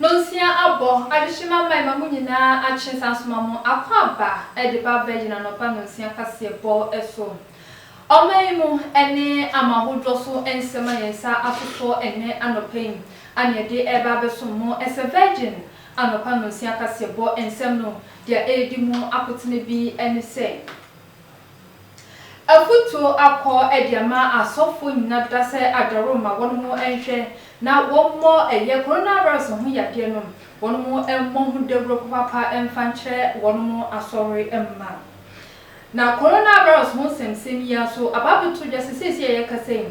Nonsia abɔ, adehyema mma ɛma mo nyinaa akye san soma mo akwaaba de ba bɛgyina anɔpa nonsia kaseɛbɔ so. Ɔman yi mu ne amanahodoɔ so nsɛm a yɛn nsa ato soɔ ɛnnɛ anɔpa yi a nea ɛde reba abɛsom mo ɛsɛ Virgin Anɔpa Nnɔnsia Kaseɛbɔ nsɛm no deɛ ɛredi mu akotene bi ne sɛ, Afutuo akɔ de ama asɔfoɔ nyina deda sɛ adaworo ma wɔnom nhwɛ na wɔmmɔ ɛyɛ Coronavirus ho yadeɛ no, wɔnom mmɔ ho dawuro papapa mfa nkyerɛ wɔnom asɔre mma. Na coronavirus ho nsɛmnsɛm yi ara so aba abɛto dwa sɛ seesei a yɛrekasa yi,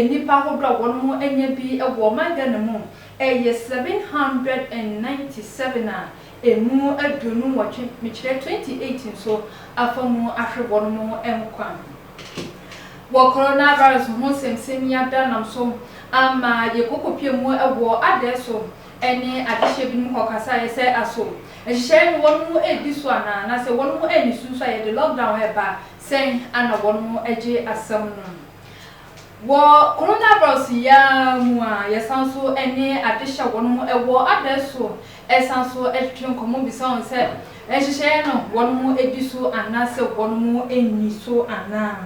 nnipa ahodoɔ a wɔnom anya bi wɔ ɔman Ghana mu yɛ 797 a ɛmu aduonu nwɔtwe, mekyerɛ 28 nso afa mu ahwere wɔnom nkwa. Wɔ coronavirus ho nsɛmnsɛm yi adanam so ama yɛkɔkɔpia mu wɔ adaɛ so, ne adehyeɛ binom hɔ kasaeɛ sɛ aso nhyehyɛeɛ no wɔnom redi so anaa na sɛ wɔnom anni so nso a yɛde lockdown reba a sɛn ana wɔnom agye asɛm no. Wɔ coronavirus yi ara mu a yɛsan so ne adehyɛ wɔnom wɔ adae so san so twetwe nkɔmmɔ bisa wɔn sɛ nhyehyɛeɛ no wɔnom di so anaa sɛ wɔnom nni so anaa.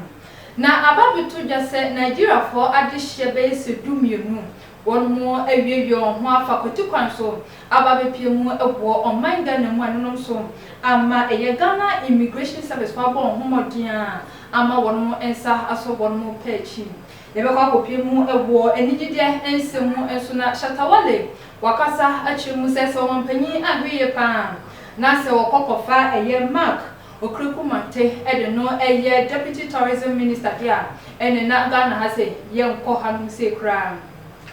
Na aba abɛto dwa sɛ Nigeriafoɔ adehyeɛ bɛyɛ sɛ du mmienu Wɔn mu awiawia wɔn ho afa kwati kwan so aba abɛpue mu aboɔ ɔman Ghana mu anonom so ama ɛyɛ Ghana Immigration Service kɔ abɔ wɔn ho mmɔden a ama wɔn nsa asɔ wɔn pɛ akyi. Yɛbɛkɔ akɔpue mu wɔ anigyedeɛ nsɛm mu nso na Shatta Wale wakasa akyerɛ mu sɛ sɛ ɔmanpanyin anhwɛ yie paa na sɛ wɔkɔ kɔfa ɛyɛ Mark Okri Kumate de no yɛ Deputy Tourism Minister de a, ɛne na Ghana ha se yɛnkɔ hanom sei koraa.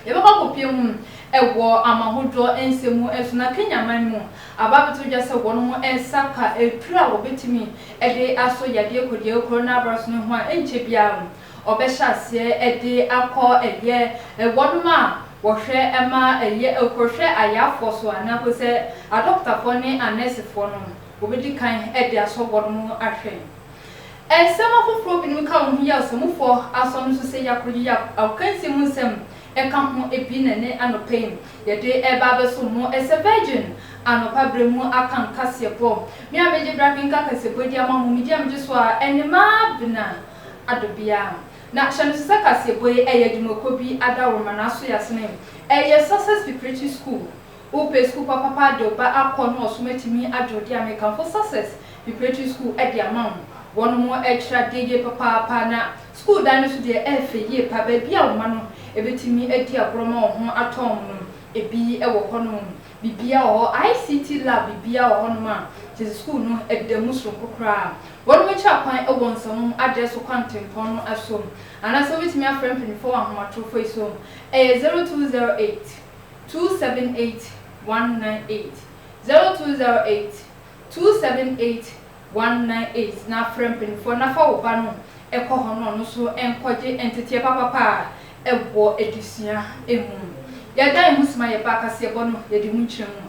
Yɛbɛkɔ akɔpie mu wɔ amahodoɔ nsɛm mu nso na Kenya man mu aba abɛto dwa sɛ wɔnom nsa ka aduro a wɔbɛtumi de asɔ yadeɛ kɔdeɛ coronavirus no ho a ɛnkyɛ biara wɔbɛhyɛ aseɛ de akɔ ɛyɛ wɔnom a wɔhwɛ ma ɛyɛ kɔhwɛ ayafoɔ so anaa kɔsɛ adɔkotafoɔ ne anɛsefoɔ no. Wobedi kan de asɔ wɔn mu ahwɛ. Nsɛm afoforo binom ka wɔn ho yɛ ɔsomfo asɔ no so sɛ Yakob yiye a akansi mu nsɛm ka ho bi na ɛne anɔpa yi yɛde reba abɛsom mo sɛ virgin anɔpa bere mu aka nkaseɛbɔ. Me a megye bere akenkan akaseɛbɔ yi de ama mo, medi a megye so ara ne Maabena Adobea. Na hyɛ no nso sɛ kaseɛbɔ yi yɛ adwumakuo bi adaworo ma n'asoɛasene. Ɛyɛ Success Preparatory School. Wopɛ sukuu papapa de wo ba akɔ na ɔsom atumi agye wo de a, mekamfo Success Preparatory School de ama wo. Wɔnom kyerɛ adeɛ yie papaapa na sukuu dan no nso deɛ ɛyɛ fɛ yie paa. Baabi a wo mma no bɛtumi adi agorɔ ma wɔn ho atɔ wɔn no, ɛbi wɔ hɔnom. Biribiara wɔ hɔ. ICT lab, biribiara wɔ hɔnom a kyerɛ sɛ sukuu no da mu sononko koraa. Wɔnom kyerɛ akwan wɔ Nsawam adeɛ so Kwantempɔn no so. Anaasɛ wobɛtumi afrɛ mpanimfoɔ wɔ ahomatorofo yi so, ɛyɛ 0208. two seven eight one nine eight zero two zero eight two seven eight one nine eight na frɛ mpaninfoɔ na fa wo ba no kɔ hɔ na ɔno nso nkɔgye nteteɛ papapa a ɛwɔ adesua mu. Yɛda yɛn ho sima yɛ ba akaseɛbɔ no yɛde mu nkyerɛ mu.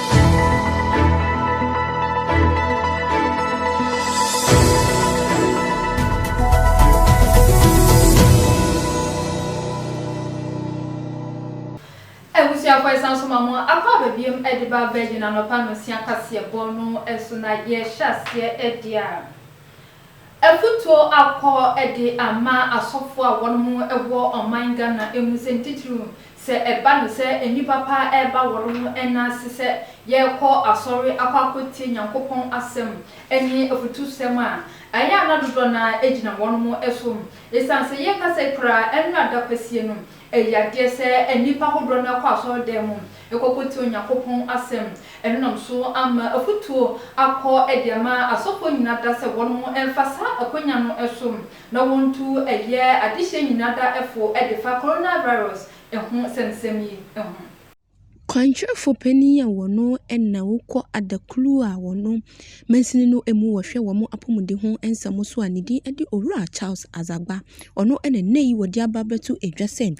Abusuafo yɛsan so ma mo akɔ aba biom de ba Virgin anɔpa nonsia kaseɛbɔ no so na yɛhyɛ aseɛ de a afutuo akɔ de ama asɔfoɔ a wɔnom wɔ ɔman Ghana mu sɛ ne titiriw Sɛ ɛba no sɛ nnipa pa ara reba wɔn ho nna ase sɛ yɛrekɔ asɔre akɔ akɔtie Nyankopɔn Asɛm ne afutusɛm a, ɛyɛ a na dodoɔ no ara gyina wɔnom so. Esiane sɛ yɛka sɛ koraa ɛnyɛ adakwasie no, ɛyɛ adeɛ sɛ nnipa ahodoɔ no ara kɔ asɔredan mu kɔkɔtie Onyankopɔn Asɛm. Ɛno nam so ama afutuo akɔ de ama asɔfoɔ nyina da sɛ wɔnom mfa saa akwanya no so. na wɔntu ɛyɛ adehyeɛ nyina da fo defa coronavirus ho sɛmsɛm yi ho. Kwankyerɛfo panin a wɔno na wokɔ adaklu a wɔno mansini no mu wɔhwɛ wɔn apɔmuden ho nsɛm so a ne din de Owura Charles Azagba, ɔno na nnɛ yi wɔde aba abɛto edwa sɛ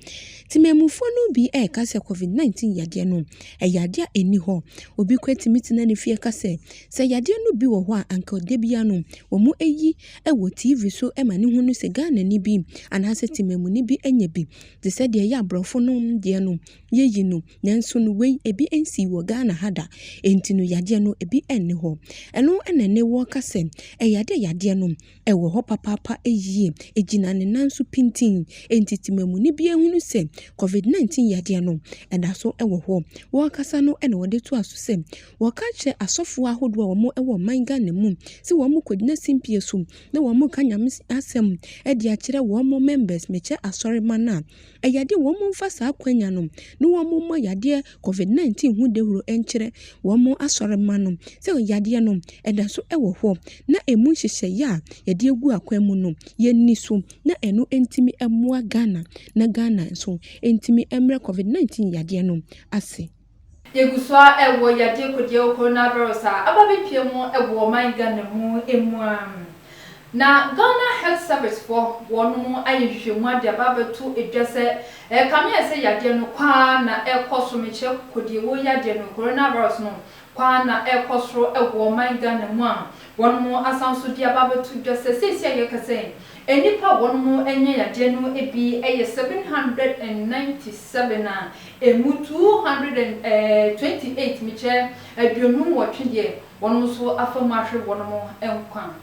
temanmufoɔ no bi reka sɛ covid 19 yadeɛ no ɛyɛ adeɛ a ɛnni hɔ, obi koraa tumi tena ne fie ka sɛ sɛ yadeɛ no bi wɔ hɔ a anka dabiara no wɔyi wɔ TV so ma no hu no sɛ Ghanani bi anaasɛ temamuni bi anya bi, te sɛ deɛ ɛyɛ aborɔfo no deɛ no, yɛyi no. Nanso no wei, ebi nsii wɔ Ghana ha da. Enti no yadeɛ no, ebi nni hɔ. Ɛno na nnɛ wɔreka sɛ, ɛyɛ adeɛ a yadeɛ no, ɛwɔ hɔ papaapa yie. Ɛgyina ne nan so pintinn. Enti temamuni bi ahunu sɛ Covid 19 yadeɛ no, ɛda so wɔ hɔ. Wɔrekasa no na wɔde toaa so sɛ, Wɔka kyerɛ asɔfoɔ ahodoɔ a wɔwɔ ɔman Ghana mu sɛ wɔn nkɔgyina simpie so na wɔn nka Nyame asɛm de akyerɛ wɔn members mekyɛ asɔreman a ɛyɛ den wɔn mfa saa akwanya no na wɔn mmɔ yadeɛ covid 19 ho dawuro nkyerɛ wɔn asɔreman no sɛ yadeɛ no ɛda so wɔ hɔ na ɛmu nhyehyɛeɛ a yɛde agu akwan mu no yɛnni so na ɛno ntumi mmoa Ghana na Ghana nso ntumi mmerɛ covid 19 yadeɛ no ase. Yɛgu so ara wɔ yadeɛ kodiawu coronavirus a aba abɛpue mu wɔ ɔman Ghana mu mu ara. Na Ghana Health Service foɔ wɔnom ayɛ nhwehwɛmu ade aba abɛto dwa sɛ ɛrekame ayɛ sɛ yadeɛ no kɔ ara na ɛrekɔ so, mekyerɛ kodiawuo yadeɛ no, coronavirus no, kɔ ara na ɛrekɔ soro wɔ ɔman Ghana mu a wɔnom asan nso de aba abɛto dwa sɛ seesei a yɛrekasa yi, Nnipa a wɔn ho anya yadeɛ no bi yɛ seven hundred and ninety seven a ɛmu two hundred and twenty eight, mekyɛ aduonu nwɔtwe deɛ, wɔnom nso afa mu ahwere wɔnom nkwa.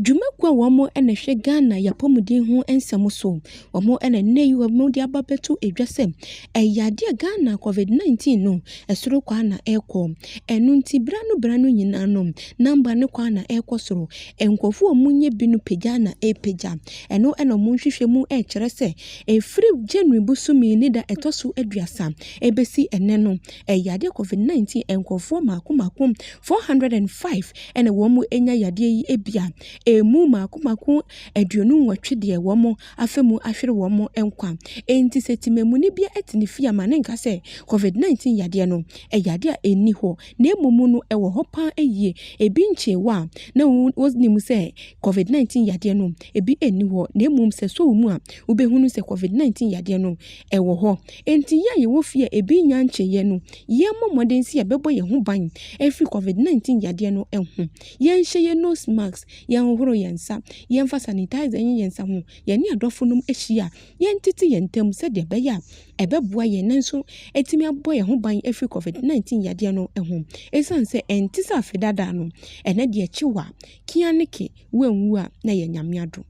Dwumakuo a wɔn na ɛhwɛ Ghana yapɔmuden ho nsɛm so wɔn ɛna nnɛ yi wɔn de aba abɛto dwa sɛ ɛyɛ adeɛ a Ghana Covid 19 no ɛsoro kwaa na ɛrekɔ. Ɛno nti berɛ ano berɛ ano nyinaa no number no kwaa na ɛrekɔ soro. Nkurɔfoɔ a wɔnyɛ bi no pagya na ɛrepagya. Ɛno na wɔn nhwehwɛmu ɛrekyerɛ sɛ ɛfiri January bosome yi ne da ɛtɔ so aduasa ɛrebɛsi ɛnnɛ no ɛyɛ adeɛ Covid 19 nkurɔfoɔ mmaako mmaako 405 ɛna wɔn anya yadeɛ yi ebia ɛmu mmaako mmaako aduonu nwɔtwe deɛ wɔn afa mu ahwere wɔn nkwa. Enti sɛ temamuni bi te ne fie a, ma no nka sɛ Covid 19 yadeɛ no yɛ adeɛ a ɛnni hɔ, na mmom no ɛwɔ hɔ pa ara yie. Ebi nkyee wɔ a na wonim sɛ Covid 19 yadeɛ no ebi nni hɔ, na mmom sɛ ɛsɔ wo mu a wobɛhunu sɛ Covid 19 yadeɛ no wɔ hɔ. Enti yɛn a yɛwɔ fie a ebi nnya nkyeeɛ no, yɛmmɔ mmɔden sɛ yɛbɛbɔ yɛn ho ban afiri Covid 19 yadeɛ no ho. Yɛnhyɛ yɛn nose mask. yɛnhohoro yɛn nsa, yɛmfa sanitizer nyɛ yɛn nsa ho, yɛne adɔfonom ahyia a, yɛntete yɛn ntam sɛdeɛ ɛbɛyɛ a ɛbɛboa yɛn nanso atumi abɔ yɛn ho ban afiri Covid 19 yadeɛ no ho. Ɛsiane sɛ ɛnte sɛ afe dada no, ɛnnɛ deɛ kye wo a, ke a ne ke, woanwu a na ɛyɛ Nyame adom.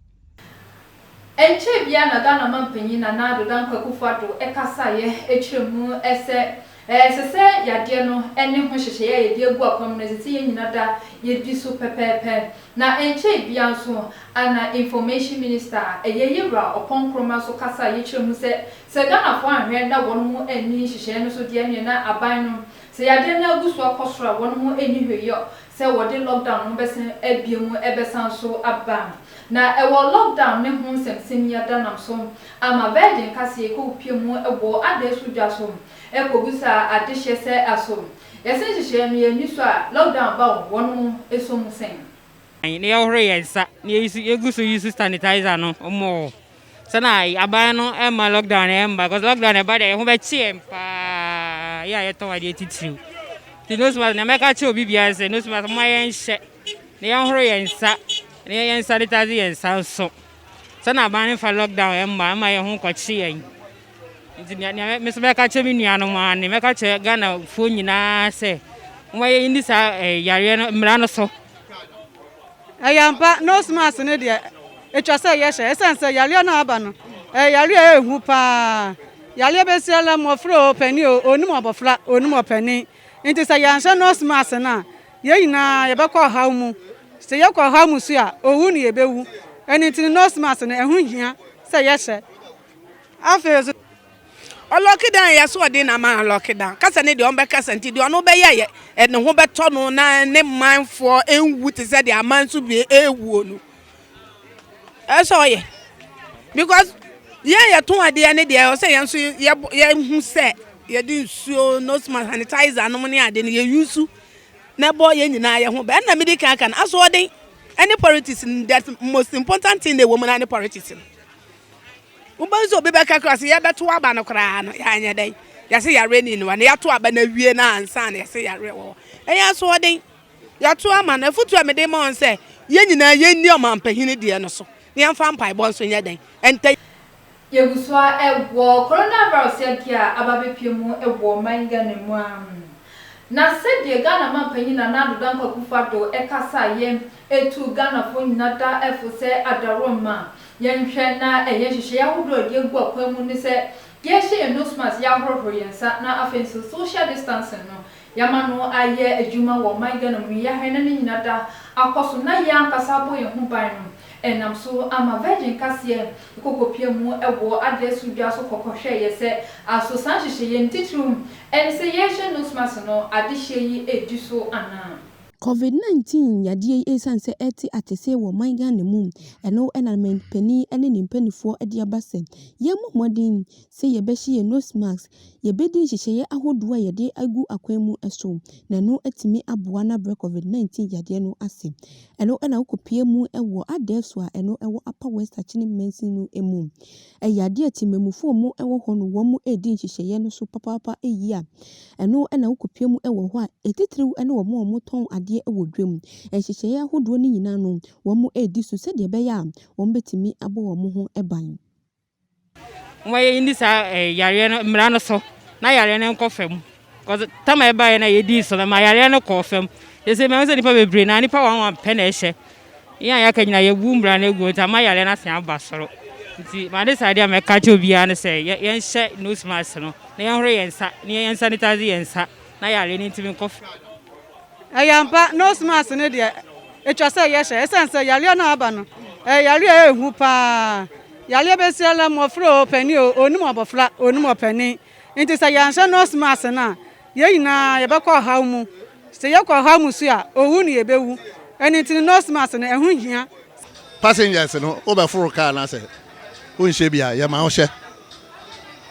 Ɛnkyɛɛ biara na Ghana mampanyin Nana Addo Dankwa Akufo Addo kasaeɛ kyerɛ mu sɛ ɛsɛ sɛ yadeɛ no ne ho hyehyɛeɛ a yɛde agu akwan mu no ɛsɛ sɛ yɛn nyina da yɛdi so pɛpɛɛpɛ. Na ɛnkyɛɛ biara nso na Information Minister a ɛyɛ Yewura Ɔpɔn Nkrumah nso kasaeɛ kyerɛ mu sɛ sɛ Ghanafoɔ anhwɛ na wɔnom anni nhyehyɛeɛ no so deɛ ɛneɛ na aban no sɛ yadeɛ no agu so akɔ soro a wɔnom nni hwee yɛ sɛ wɔde lockdown no bɛsan abue mu bɛsan nso aba. Na ɛwɔ lockdown no ho nsɛmsɛmia da nam so ama Virgin kaseɛ yi kɔpue mu wɔ adɛɛ so dwa so kɔbisa adehyeɛ sɛ aso yɛse nhyehyɛɛ no yɛnni so a lockdown ba o wɔn mo som sɛn? Na yɛhoro yɛn nsa na yɛgu so use sanitizer no mmɔɔ. Sɛ na aban no mma lockdown no mma cause lockdown no ɛba deɛ ɛho bɛkye yɛn paa yɛ a yɛtɔn adeɛ titiriw nti nose mask na mɛka kyerɛ obi biara sɛ nose mask mo a yɛnhyɛ na yɛnhoro yɛn nsa na yɛyɛ nsa de tase yɛn nsa nso sɛ na aban no fa lockdown mma mma yɛn ho nkɔkye yɛn nti nea me nso mɛka kyerɛ me nuanom a ne mɛka kyerɛ ghanafoɔ nyinaa sɛ wɔn yɛ ni saa eh, yareɛ no mmara no so. Ɛyɛ ampa, nose mask no deɛ ɛtwa sɛ yɛhyɛ ɛsiane sɛ yareɛ no a aba no ɛyɛ yareɛ a ɛhu paa. Yareɛ bɛsia la mmɔfra o, panin o, ɔnnim abɔfra, ɔnnim ɔpanin. Nti sɛ yɛanhyɛ nose mask no a, yɛn nyinaa yɛbɛkɔ ɔhaw mu. Sɛ yɛkɔ ɔhaw mu nso a, owu na yɛbɛwu. Ɛno nti no nose mask no ɛho hia sɛ yɛhyɛ. Afei nso, ɔlɔke dan yɛ asoɔden na ama alɔke dan. Kasa ne deɛ ɔmbɛkasa nti deɛ ɔno bɛyɛ yɛ ɛne ho bɛtɔ no na ne manfoɔ ɛnwu te sɛ deɛ aman so bie ɛwuo no. Ɛsɛ ɔyɛ. Because yɛn yɛto adeɛ ne deɛ ɔsɛ yɛn nso yɛhu sɛ yɛde nsuo nose mask sanitizer nom ne ade no yɛyusu na ɛbɔ yɛn nyinaa yɛ ho bɛn na mede kan aka no asoɔden ɛne politics that most important thing na ɛwɔ mu na ne politics no. wobɛhu sɛ obi bɛka kora sɛ yɛbɛto aba no koraa no yɛanyɛ dɛn yɛse yareɛ ni no hɔ na yɛato aba no awie no ansa na yɛse yareɛ wɔ hɔ ɛyɛ asoɔden yɛato ama no afotu a mede ma wɔn sɛ yɛn nyinaa yɛnni ɔmampahini deɛ no so na yɛmfa mpaebɔ nso nyɛ dɛn ɛntɛ Yɛgu so ara wɔ coronavirus yadeɛ a aba abɛpue mu wɔ ɔman Ghana mu ara. Na sɛdeɛ Ghana manpanyin Nana Addo Dankwa Akufo-Addo kasaeɛ Etu Ghanafoɔ nyina da fo sɛ adaworoma. Yɛnhwɛ na ɛyɛ nhyehyɛeɛ ahodoɔ a yɛde agu akwan mu ne sɛ yɛhyɛ yɛn nose mask, yɛahohoro yɛn nsa na afei nso social distancing no yɛama no ayɛ adwuma wɔ ɔman Ghana mu yi. Yɛahwɛ na ne nyina da akɔ so na yɛn ankasa abɔ yɛn ho ban no ɛnam so ama Virgin kaseɛ kɔkɔpia mu wɔ adeɛ so dwa so kɔkɔhwɛeɛ sɛ aso saa nhyehyɛeɛ no titiriw ne sɛ yɛhyɛ nose mask no adehyeɛ yi redi so anaa. Covid 19 yadeɛ yi ɛsiane sɛ ɛte atesee wɔ ɔman Ghana mu ɛno ɛna mampanin ɛne ne mpaninfoɔ ɛde aba sɛ yɛmmɔ mmɔden sɛ yɛbɛhyɛ yɛn nose mask yɛbɛdi nhyehyɛeɛ ahodoɔ a yɛde agu akwan mu ɛso na ɛno atumi aboa na abrɛ Covid 19 yadeɛ no ase ɛno ɛna wokɔ pue mu ɛwɔ adɛɛso a ɛno ɛwɔ Upper West Akyene Mansin no ɛmu Ɛyɛ adeɛ a temanmufoɔ mu wɔ hɔ no wɔn mu redi nhyehyɛeɛ no so papaapa yie a ɛno na wokɔpue mu wɔ hɔ a ɛtitiriw ne wɔn a wɔtɔn adeɛ wɔ dwam. Nhyehyɛeɛ ahodoɔ no nyinaa no wɔn redi so sɛdeɛ ɛbɛyɛ a wɔbɛtumi abɔ wɔn ho ban. Momma yɛnni saa yareɛ no mmara no so na yareɛ no nkɔ fam. Cause tam a ɛbaeɛ na yɛdii so no ma yareɛ no kɔɔ fam. Yɛsɛ mɛhu sɛ nipa bebree na nipa wɔn wɔn pɛ na ɛhyɛ. Yɛn a yɛaka nyina yɛbu mmara no agu nti ama yareɛ no asan aba soro. Nti ma ne saa adeɛ a mɛka kyerɛ obiara no sɛ yɛnhyɛ nose mask no na yɛnhoro yɛn nsa na yɛn sanitize yɛn nsa na yareɛ no ntumi nkɔ fam. Ɛyɛ ampa, nose mask no deɛ ɛtwa sɛ yɛhyɛ ɛsiane sɛ yareɛ no a aba no ɛyɛ yareɛ a ɛhu paa. Yareɛ bɛsi ara mmɔfra o, panin o, ɔnnim abɔfra, ɔnnim ɔpanin. Enti sɛ yɛanhyɛ nose mask no a, yɛn nyinaa yɛbɛkɔ ɔhaw mu. Sɛ yɛkɔ ɔhaw mu nso a, owu na yebewu. Ɛno nti no, nose mask no, ɛho hia. Passengers no, wobɛforo kaa no a, sɛ wonhyɛ bi a, yɛma wohyɛ.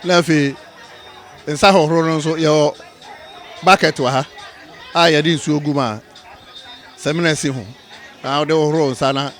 Na afei, nsa hohoro no nso, yɛwɔ bucket wɔ ha a yɛde nsuo gu mu a samina si ho na wode hohoro wo nsa na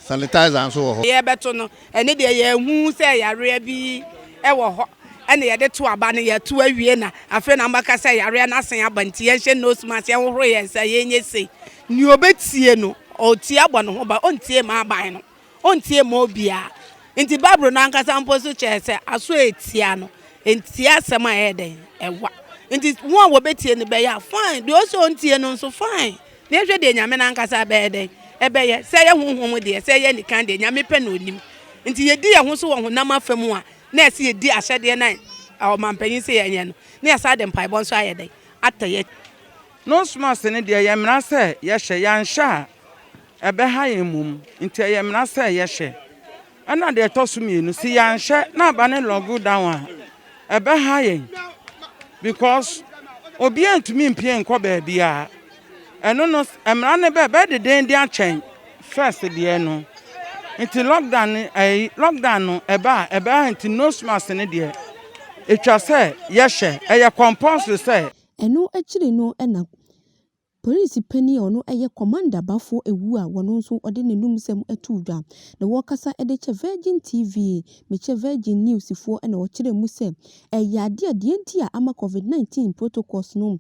sanitizer nso wɔ hɔ. Yɛrebɛto no, Ɛno deɛ yɛnhu sɛ yareɛ bi wɔ hɔ ɛna yɛde to aba no yɛto awie na afei na mbɛka sɛ yareɛ no asan aba nti yɛnhyɛ nose mask yɛnhohoro yɛn nsa yɛnyɛ sei nea ɔbɛtie no ɔtie abɔ ne ho ba ɔntie ma aban no ɔntie ma obiara nti bible no ankasa mpo so kyerɛ sɛ aso a ɛtia no ɛntie asɛm a ɛyɛ dɛn ɛwa nti ho a wɔbɛtie no bɛyɛ a fine deɛ ɔsɛ ɔntie no nso fine Na yɛnhwɛ deɛ Nyame no ankasa bɛyɛ dɛn? Ɛbɛyɛ, sɛ ɛyɛ honhom mu deɛ, sɛ ɛyɛ anikan deɛ, Nyame pɛ na Ɔnim. Nti yɛdi yɛn ho so wɔ honam afa mu a, na ɛsɛ yɛdi ahyɛdeɛ no a ɔmampanyin se yɛnyɛ no, na yɛsan de mpaebɔ nso ayɛ dɛn? Atɔ yɛn. Nose-mask no deɛ, ɛyɛ mmara sɛ yɛhyɛ, yɛanhyɛ a, ɛbɛha yɛn mmom, nti ɛyɛ mmara sɛ yɛhyɛ. Ɛna deɛ ɛtɔ so mmienu, se yɛanhwɛ na aba ne logo down a, ɛbɛha yɛn because obiara ntumi mpie nkɔ baabiara. Ɛno no mmara no bɛ bɛyɛ deden de akyɛn first deɛ no. Nti lockdown no ɛyi lockdown no ɛba a ɛbɛha nti nose mask no deɛ ɛtwa sɛ yɛhyɛ ɛyɛ compulsory sɛ. Ɛno akyiri no na Polisi panyin a ɔno yɛ Commander Baffour Awuah a ɔno nso ɔde n'anumsɛm too dwa na ɔkasa de kyɛ Virgin TV, mekyɛ Virgin News foɔ na ɔkyerɛɛ mu sɛ ɛyɛ adeɛ a deɛ nti a ama Covid 19 protocols no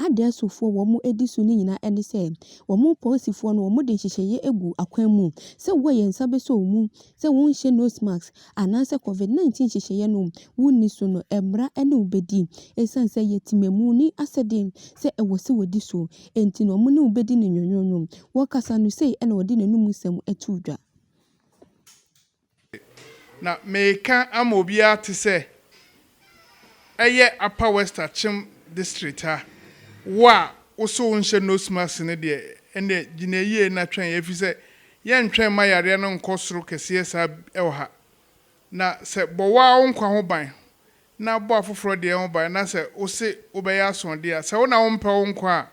adɛɛsofoɔ wɔn di so no nyinaa ne sɛ wɔn polisifoɔ no wɔde nhyehyɛeɛ agu akwan mu sɛ wɔyɛ nsa bɛsɔ mu sɛ wonhyɛ nose mask anaasɛ Covid 19 nhyehyɛeɛ no wonni so no mmara ne wo bɛdi. Ɛsiane sɛ ɛyɛ temamu ne asɛdeɛ sɛ ɛwɔ sɛ wɔdi so nti no wɔne wo bɛdi no nwonwonwo. Wɔkasa no sei na ɔde n'anom nsɛm too dwa. Na mereka ama obiara te sɛ ɛyɛ Upper West Akyem District ha, wo a wo so wonhyɛ nose mask no deɛ, ɛnneɛ gyina yie na twɛn ɛfiri sɛ yɛntwɛn mma yareɛ no nkɔ soro kɛseɛ saa bi wɔ ha. Na sɛ bɔ wo ara wo nkwa ho ban na bɔ afoforɔ deɛ ho ban na sɛ wo se wobɛyɛ asoɔdeɛ a, sɛ wo na wompɛ wo nkwa a,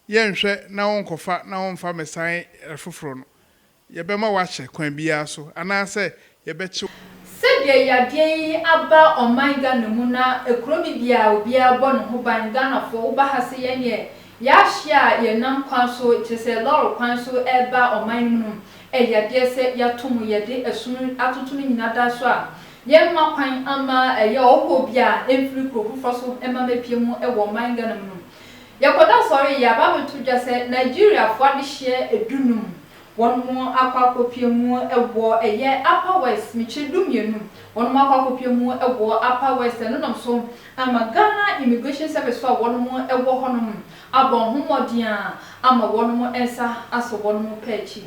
yɛnhwɛ na wonkɔfa na womfa mmɛsan afoforɔ no. Yɛbɛma woakyɛ kwan biara so anaasɛ yɛbɛkye wo. Sɛdeɛ yadeɛ yi aba ɔman Ghana mu na kuro bi biaa obiaa bɔ ne ho ban Ghanafoɔ wo ba ha se yɛneɛ yɛahye a yɛnam kwan so kyerɛ sɛ lɔre kwan so reba ɔman no mu no ɛyɛ adeɛ sɛ yɛato mu yɛde ɛsono atoto no nyina da so a yɛmma kwan mma ɛyɛ ɔhɔhoɔ biaa mfiri kuro foforɔ so mma mɛpie mu wɔ ɔman Ghana mu no Yɛkɔda asɔre yi a, Bible to dwa sɛ Nigeriafo adehyeɛ du num wɔn mo akɔ akɔpia mu wɔ ɛyɛ Upper West, mekyerɛ du mmienu wɔn mo akɔ akɔpia mu wɔ Upper West, ɛno nam so ama Ghana Immigration Service fo a wɔn mo wɔ hɔ nom abɔ ho mmɔden a ama wɔn mo nsa asɔ wɔn mo pɛ akyi.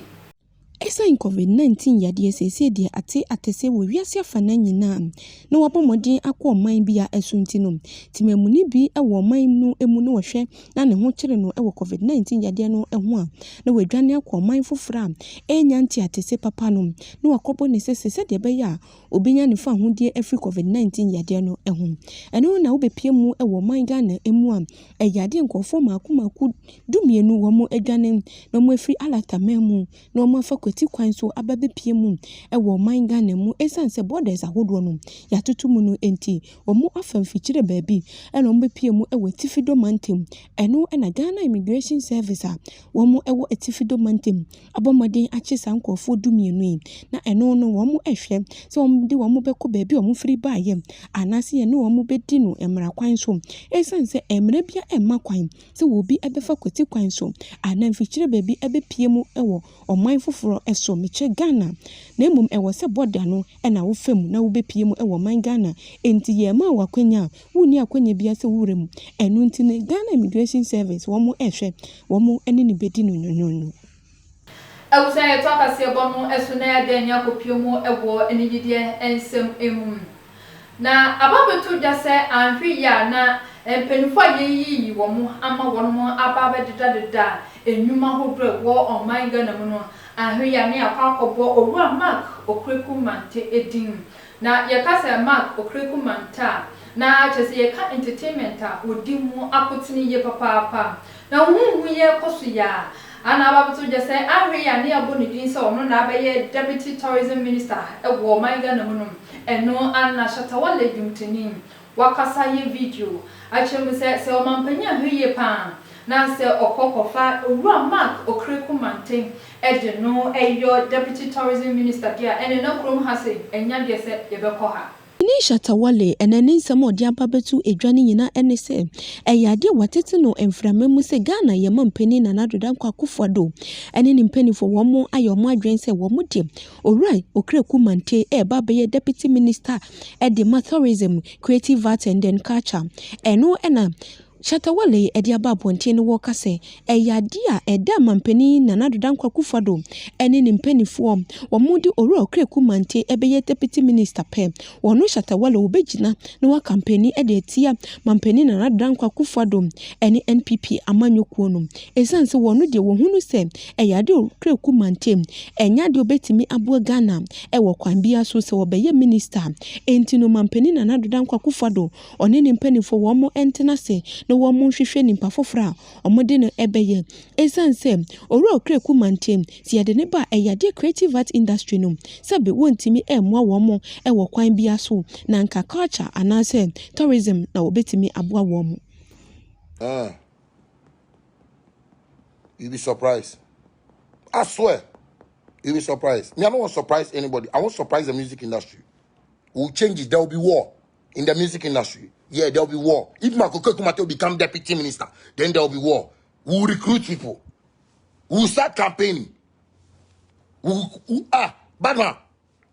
Esiane Covid 19 yadeɛ seesei deɛ ate akɛseɛ wɔ wiase afanaa nyinaa a na wabɔ mmɔden akɔ ɔman bi a ɛso nti no, temamuni bi wɔ ɔman no mu na ɔhwɛ na ne ho kyere no wɔ Covid 19 yadeɛ no ho a na wadwane akɔ ɔman foforɔ a ɛrenya nteatese papa no na wakɔbɔ ne sese sɛdeɛ ɛbɛyɛ a obenya ne fahodie afiri covid 19 yadeɛ no ho. Ɛno na wobɛpie mu wɔ ɔman Ghana mu a ɛyɛ adeɛ nkurɔfoɔ mako mako du mmienu wɔn adwane na wɔn afiri Alata man mu na wɔn afa kwati kwan so aba bɛpie mu wɔ ɔman Ghana mu ɛsiane sɛ borders ahodoɔ no yɛatoto mu no nti wɔn afa mfikyire baabi ɛna wɔn bɛpie mu wɔ Atifi Dɔ mantam ɛno na Ghana Immigration Service a wɔn wɔ Atifi Dɔ mantam abɔ mmɔden akye saa nkurɔfoɔ dumienu yi, na ɛno no wɔhwɛ sɛ wɔde wɔn bɛkɔ baabi a wɔfiri baeɛ anaasɛ yɛne wɔn bɛdi no mmara kwan so. Ɛsiane sɛ mmara biara mma kwan sɛ obi bɛfa kwati kwan so anaa mfikyire baabi bɛpue mu wɔ ɔman foforɔ so, mekyerɛ Ghana, na mmom ɛwɔ sɛ bɔda no na wofa mu na wobɛpue mu wɔ ɔman Ghana. Enti yɛmmaa wo akwanya a wonni akwannya biara sɛ wowura mu. Ɛno nti no, Ghana Immigration Service, wɔhwɛ, wɔne no bɛdi no nwonwonwo. Ɛwɔ sɛ yɛto akaseɛbɔ no so na yɛada ani akɔpue mu wɔ anigyedeɛ nsɛm mu. Na aba abɛto dwa sɛ anhwɛ yie a na mpaninfoɔ a yɛayiyi wɔn ama wɔnom aba abɛdedadeda nnwuma ahodoɔ a ɛwɔ ɔman Ghana mu no, anhwɛ yie a na yɛakɔ akɔbɔ Owura Mark Okraku Manteh din Na yɛka sɛ Mark Okreku mantaa a, na kyerɛ sɛ yɛka entertainment a wɔdi mu akotene yie papaapa. Na huhuuyɛ kɔ so yɛ a, a na aba abɛto gya sɛ Anhwɛ yie a ne yɛabɔ ne din sɛ ɔno na abɛyɛ Deputy Tourism Minister wɔ ɔman Ghana mu no, ɛno ara na Shatta Wale dwomtoni wakasa yɛ video akyerɛ mu sɛ sɛ ɔmampanyin anhwɛ yie paa a na sɛ ɔkɔ kɔfa Owura Mark Okereko Manten de no yɔ Deputy Tourism Minister deɛ a ɛneɛ na kurom ha sei anya deɛ sɛ yɛbɛkɔ ha. Winnie Shatta-Wale na ne nsɛm a ɔde aba abɛto dwa no nyinaa ne sɛ ɛyɛ adeɛ a wɔatete no mframa mu sɛ Ghana yɛn mampanin Nana Addo Dankwa Akufo-Addo ne ne mpanimfoɔ wɔayɛ wɔn adwene sɛ wɔn de Owura Okraku Mantey reba abɛyɛ Deputy Minister de ma Tourism, Creative Arts and then Culture. Ɛno na Shatta Wale de aba abɔnten no wɔka sɛ ɛyɛ adeɛ a ɛda Manpanin Nana Ado Dankwa Akufo-Addo ne ne mpaninfoɔ wɔn de Owura Okraku Mantey bɛyɛ Deputy Minister pɛ. Wɔn, Shatta Wale, wɔbɛgyina na wɔakampani de atia Manpanin Nana Ado Dankwa Akufo-Addo ne NPP amanyɔkuo no. Ɛsiane sɛ wɔn deɛ wɔhu no sɛ ɛyɛ adeɛ a ɔkura ku mantam, ɛnyɛ adeɛ a ɔbɛtumi aboa Ghana wɔ kwan biara so sɛ ɔbɛyɛ Minista nti no, Mampanin Nana Addo Dankwa Akufo-Addo, ɔne ne mpaninfoɔ wɔn ntena ase na wɔn nhwehwɛ nipa foforɔ a wɔde no bɛyɛ. Ɛsiane sɛ Owura ɔkura ku mantam, sɛ yɛde no ba a ɛyɛ adeɛ Creative Arts Industry no, sɛbe wɔntumi mmoa wɔn wɔ kwan biara so na anka Culture anaasɛ Tourism na wɔbɛtumi aboa wɔn. you be surprised i swear you be surprised me i don't want surprise anybody i want surprise the music industry will change it there will be war in the music industry yeah there will be war if makoko kumate become deputy minister then there will be war we will recruit people we will start campaigning we will, we, ah badman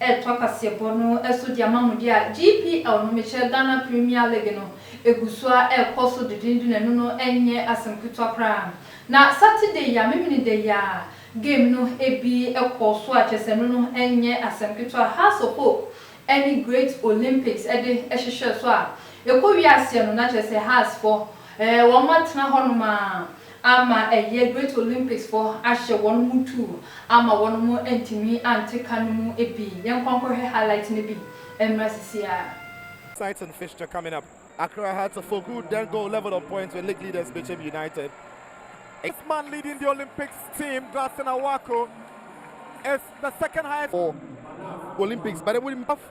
retoa kaseɛbɔ no so de ama mo deɛ a, GPL no, mekyerɛ Ghana Premier League no, ɛgu so ara rekɔ so dendenden na ɛno no nyɛ asɛm ketewa koraa. Na Saturday yi a, Memeneda yi ara game no bi kɔɔ so a, kyerɛ sɛ ɛno no nyɛ asɛm ketewa. Hearts of Hope ne Great Olympics de hwehwɛɛ so a, ɛkɔwiee aseɛ no, na kyerɛ sɛ Hearts foɔ wɔatena hɔnom ara. Ama ɛyɛ Great Olympics fɔ ahyɛ wɔn mu tu ama wɔn mo antumi ante ka no mu bi yɛnkɔ nkɔhwɛ highlight no bi mmra sisiaa. Exciting fixture coming up, Accra Hearts of Oku then go level on points with league leaders Bichem United. Eighth man leading the Olympics team, Glasson Awako, is the second highest. for Olympics, but it would be tough.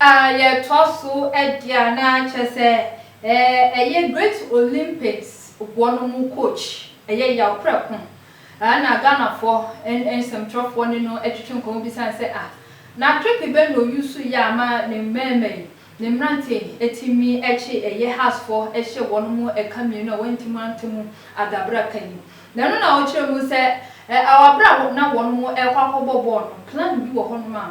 A Yɛtoa so di a na kyerɛ sɛ ɛyɛ Great Olympics boɔ no mu coach ɛyɛ yaw prɛko a na Ghanafoɔ nsɛmtwerɛfoɔ ne no twetwe nkɔmmɔ bisane sɛ a na trick bɛn na ɔuse yɛ a ma ne mmarima yi ne mmeranteɛ yi tumi kye ɛyɛ Haasfoɔ hyɛ wɔn mu ɛka mmienu a wɔantumi ante mu ada berɛ a aka yi na ɛno na ɔkyerɛ mu sɛ a berɛ a na wɔn rekɔ akɔbɔ bɔɔl no plan bi wɔ hɔnom a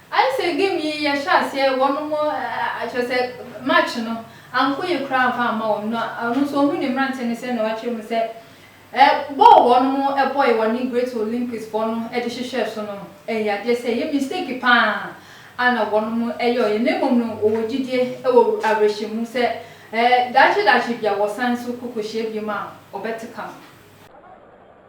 Ayɛ sɛ game yi yɛ hyɛ aseɛ wɔn mo ɛ kyerɛ sɛ match no anko yie koraa anfa amma wɔn na ɔno nso ɔhu ne mmranteɛ no sɛ na wakyerɛ mu sɛ ɛ bɔɔl wɔn mo bɔɔe wɔne great Olympics foɔ no de hyehyɛɛ so no ɛyɛ adeɛ sɛ ɛyɛ mistake paa a na wɔn mo yɔɔeɛ na mmom no wɔwɔ gyidie wɔ awerɛhyɛmu sɛ ɛ daakye daakye bia wɔsan nso kɔ kɔhyia biom a wɔbɛte ka no.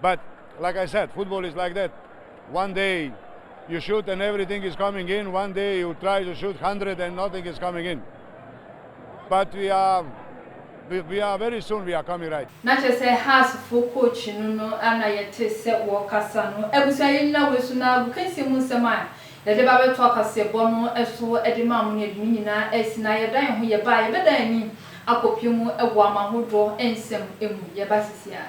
But like I said football is like that one day you shoot and everything is coming in one day you try to shoot hundred and nothing is coming in but we are we are very soon we are coming right. Na kyerɛ sɛ Hearts foɔ coach no no a na yɛte sɛ wɔrekasa no. Abusua yɛnnyina wei so na agokansie mu nsɛm a yɛde ba bɛto akaseɛbɔ no so de maa mo no yɛde ne nyinaa asi na yɛda yɛn ho yɛba a yɛbɛdan ani akɔpie mu wɔ ama hodoɔ nsɛm mu yɛba sisi a.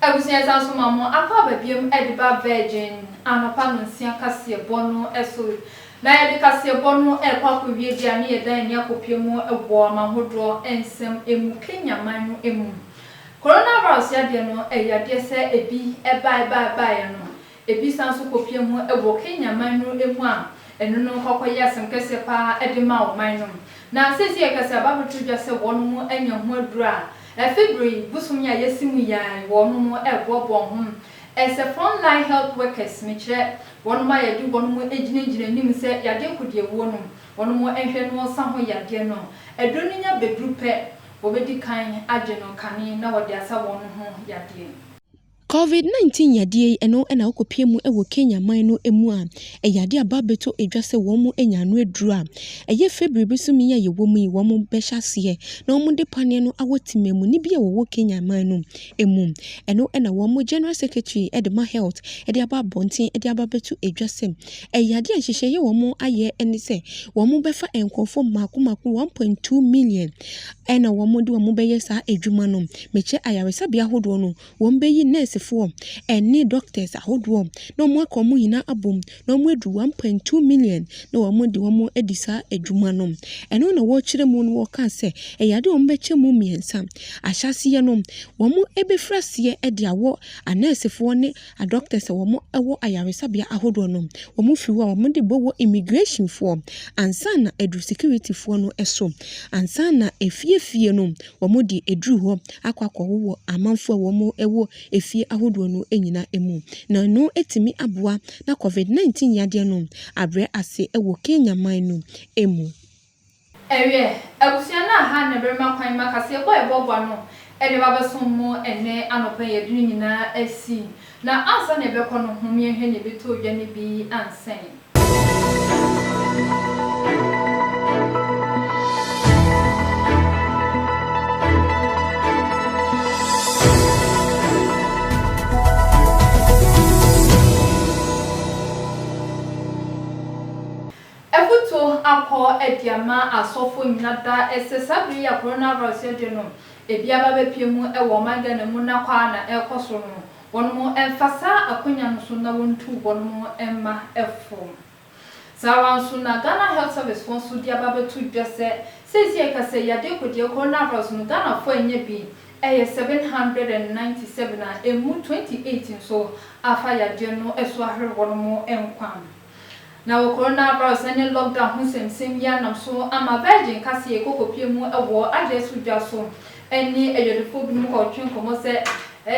Abusua yɛsan nso ma mo akɔ aba biom de ba Virgin anɔpa nonsia kaseɛ bɔ no so na yɛde kaseɛ bɔ no rekɔ akɔ wie deɛ a ne yɛdan ani akɔ pue mu wɔ ɔman hodoɔ nsɛm mu Kenya man no mu Corona virus yadeɛ no ɛyɛ yadeɛ sɛ ebi bae bae baeɛ no Ebi san so kopue ho wɔ Kenya man no mu a ɛno no kɔkɔ yɛ asɛm kɛseɛ pa ara de ma ɔman no. Na seesei yɛka sɛ aba abɛto dwa sɛ wɔnom anya ho aduru a afe duro yi bosom yi a yɛasi mu yi ara yi wɔnom ɛreboaboa wɔn ho. Ɛsɛ front line health workers, mekyerɛ wɔnom a yɛde wɔnom gyinagyina anim sɛ yadeɛ kodiawuo no wɔnom nhwɛ na wɔsa ho yadeɛ no. Aduro no nya bɛduru pɛ wɔbɛdi kan agye no kane na wɔde asa wɔnom ho yadeɛ. Covid 19 yadeɛ yi ɛno na wokɔpie mu wɔ Kenya man no mu a ɛyɛ adeɛ a bɛabɛtɔ dwa sɛ wɔn mu anya ano aduru a ɛyɛ February bosome yi a yɛwɔ mu yi wɔn mo bɛhyɛ aseɛ na wɔn de paneɛ no awɔ temamu ni bi a wɔwɔ Kenya man no mu. Ɛno na wɔn mo General Secretary de ma Health de aba abɔnten de aba abɛto dwa sɛ ɛyɛ adeɛ a nhyehyɛeɛ wɔn mo ayɛ ne sɛ wɔn mo bɛfa nkurɔfoɔ mmaako mmaako 1.2 million ɛna wɔn mo de wɔn mo bɛyɛ saa adwuma no mekyɛ ayaresabea ahodoɔ no wɔbɛyi nɛɛsefoɔ ne doctors ahodoɔ na wɔn aka wɔn nyinaa abom na wɔn aduru one point two million na wɔn adi wɔn adi saa adwuma no. Ɛno na wɔkyerɛ mu no wɔkaa sɛ ɛyɛ adeɛ a wɔn bɛkyɛ mu mmiɛnsa. Ahyɛaseɛ no wɔn bɛfiri aseɛ de awɔ anɛɛsefoɔ ne adoctors a wɔn wɔ ayaresabea ahodoɔ no wɔn firi hɔ a wɔn de bɛwɔ immigrationfoɔ ansa na aduru securityfoɔ no so ansa na afie fie no wɔde aduru hɔ akɔ akɔwowɔ amanfo a wɔwɔ afie ahodoɔ no nyina mu. Na ɛno atumi aboa na Covid 19 yadeɛ no abrɛ ase wɔ Kenya man no mu. Ɛwiɛ, abusua no a ha na ɛberema kwan ma kaseɛbɔ a ɛboaboa no de ba bɛsom mo ɛnnɛ anɔpa yi adu no nyinaa asi. Na ansa na yɛbɛkɔ no, hom yɛnhwɛ nea ebetɔ odwa no bi ansen. Afotu akɔ adi ama asɔfo nyina daa, ɛsɛ saa bere yi a coronavirus yɛ den no. Ebi aba bɛpue mu wɔ ɔman Ghana mu na kwa a na ɛrekɔ so no, wɔnom mfa saa akwanya no so na wɔntu wɔnom mma fam. Saa ara nso na Ghana Health Service foɔ nso de aba bɛto dwa sɛ seesei a ɛka sɛ yadeɛ kodeɛ, coronavirus, no Ghanafoɔ anya bi yɛ seven hundred and ninety seven a ɛmu twenty eight nso afa yadeɛ no so ahwere wɔnom nkwa. Na wɔ coronavirus ne lockdown ho nsɛmnsɛm yi anam so ama Virgin ka sɛ yɛkɔkɔpie mu wɔ adwene so dwa so ne adwadifoɔ binom kɔ retwe nkɔmmɔ sɛ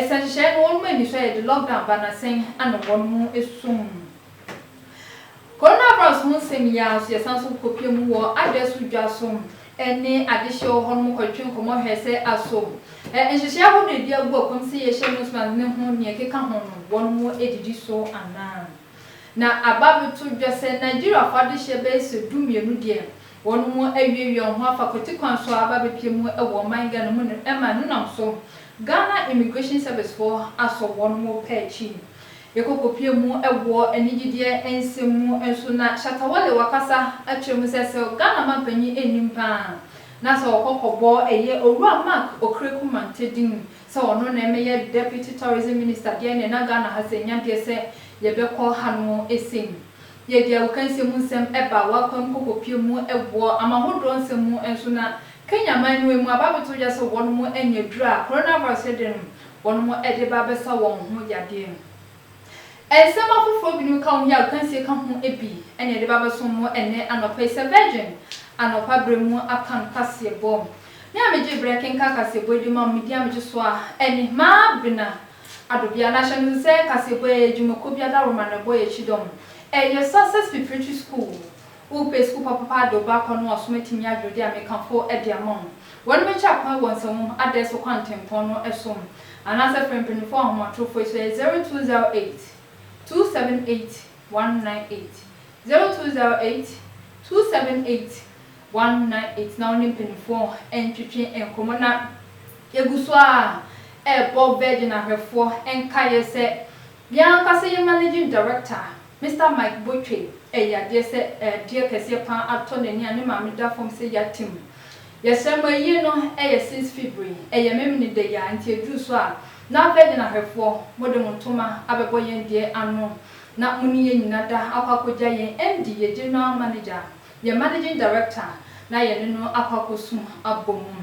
sɛ nhyehyɛeɛ no wɔnom ani so a yɛde lockdown ba na sɛn na wɔnom ɛsum coronavirus ho nsɛm yi ara nso yɛsan nso kɔkɔpie mu wɔ adwene so dwa so ne adehyeɛ wɔ hɔnom kɔ retwe nkɔmmɔ hwɛ sɛ aso nhyehyɛeɛ ahodoɔ ɛdi agu akwam sɛ yɛhyɛ nose mask ne ho nea ɛkeka ho no wɔnom ɛdidi so anaa. Na aba bɛto dwa sɛ Nigeriafo adehyeɛ bɛyɛ sɛ du mmienu deɛ wɔn mo awie wie wɔn ho afa kwati kwan so a aba bɛpie mu wɔ ɔman Ghana mu no ɛma ɛno nam so Ghana Immigration Service foɔ asɔ wɔn mo pɛ akyi yɛkɔ kɔ pie mu wɔ anigyedeɛ nsɛm mu nso na Shatta Wale wakasa akyerɛ mu sɛ sɛ Ghana manpanyin nnim paa na sɛ ɔkɔ kɔ bɔ ɛyɛ Owura Mark Okreku Manteh din sɛ ɔno na ɛmɛyɛ Deputy Tourism Minister deɛ ɛneɛ na Ghana ha sɛ nya deɛ sɛ yɛbɛkɔ hanom ɛsɛ mu. Yɛ deɛ awokansie mu nsɛm ɛba wakwan mu kɔkɔpie mu ɛboɔ ama ahodoɔ nsɛm mu nso na Kenya man no ɛmu aba abɛto gya sɛ wɔnom anya aduro a Coronavirus ɛde nom wɔnom ɛde ba abɛsa wɔn ho yadeɛ no. Nsɛm afoforo binom ka wo yi a akansie ka ho bi na yɛde ba abɛsom mo ɛnnɛ anɔpa yi sɛ Virgin anɔpa berɛ mu apam kaseɛbɔ. Me a megye berɛ kenkan kaseɛbɔ yi de ma mo, me din a megye so ara ne Maabena Adobea. Na hyɛ no nso sɛ kaseɛbɔ yi ɛyɛ dwumakuo bi adaworoma na ɛbɔ yɛn kyidɔm. Ɛyɛ Success Preparatory School. Wopɛ sukuu papapa a de wo ba akɔ no a ɔsom atumi adwene de amekafo de ama wo? Wɔbɛkyɛ akwan wɔ nsamu adae so kwantempɔn no so anaasɛ frɛ mpanyimfo ahomatorofo yi so, ɛyɛ 0208 278 198, 0208 278 198, na wo ne mpanyimfo ntwetwe nkɔmmɔ na yegu so ara rebɔ Virgin ahwɛfoɔ nkaeɛ sɛ yɛn ankasa yɛn Managing Director, Mister Mike Botwe yɛ yadeɛ sɛ ɛɛdeɛ kɛseɛ paa atɔ n'ani a ne maame da fam sɛ yate mu. Yɛsrɛ mo ayie no yɛ since February, ɛyɛ memene da yi a nti ɛduru so a na afei de no ahwɛfoɔ mo de mo ntoma abɛbɔ yɛn deɛ ano na mo ne yɛn nyina da akɔ akɔgya yɛn MD, yɛn General Manager, yɛn Managing Director na yɛne no akɔ akɔsum abɔ mu.